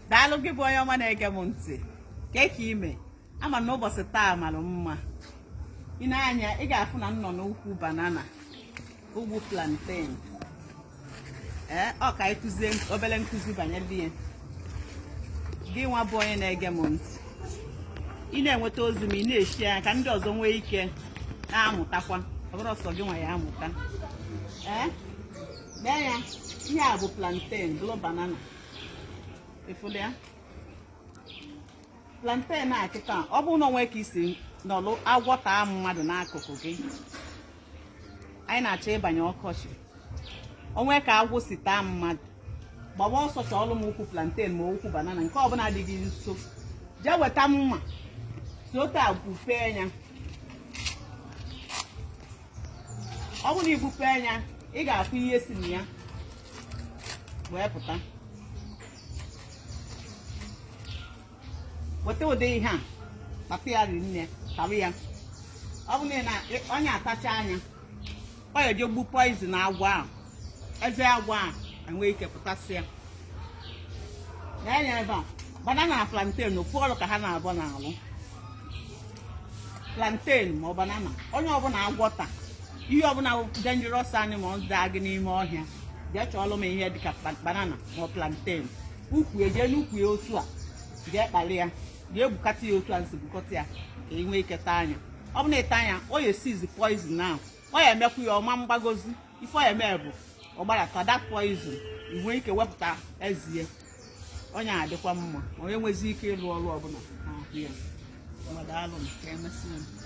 daalụ gị bụ onye ọma na-ege m ntị kee ka i me ama m na ụbọchị taa mara mma i nee anya ị ga-afụ na m nọ n'ukwu banana ukwu plantain ee ọ ka anyị kụzie obere nkụzi banyere ya gị nwa bụ onye na-ege m ntị ị na-enweta ozi m ị na-eshare ya ka ndị ọzọ nwee ike na-amụtakwa ọ bụrọ sọ gị nwa ya-amụta ee lee ya ihe a bụ plantain bụrụ banana ị fụlụ ya plantain a kịta ọ bụrụ na o nwe ka i si nọlụ agwọ taa mmadụ n'akụkụ gị anyị na-achọ ịbanye ọkọchị o nwe ka agwọ si taa mmadụ gbaba ọsọ chọọlụ m ukwu plantain ma ukwu banana nke ọbụla dị gị nso jee weta mma si otu a gbupee ya ọ bụrụ na i gbupee ya ị ga-afụ ihe si na ya wee pụta weta ụdị ihe a kpata ya rinne tarie ya ọ bụrụ na onye a tachaa ya ọ ya-eje gbuo poison agwọ ahụ eze agwọ a enwee ike pụtasịa nee anya ebe a banana na plantain ofu ọrụ ka ha naabọ na-alụ plantain ma ọ banana onye ọbụla agwọ ta ihe ọbụla dangerous animals taa gị n'ime ọhịa jee chọọlụ m ihe dịka banana ma plantain ukwu ya jee n'ukwu ya otu a jee kpali ya jee gbukata ya otu a m si gbukata ya ka ị nwee ike taa ya ọ bụrụ na ị taa ya ọ ya-esizi poison ahụ ọ ya-emekwu ya ọ ma agbagozi ife ọ ya-eme bụ ọ gbarata that poison i nwee ike wepụta eze ya onye a dịkwa mma onye nwezi ike ịlụ ọrụ ọbụla n'ahụ ya ngwa daalụ ka emesịa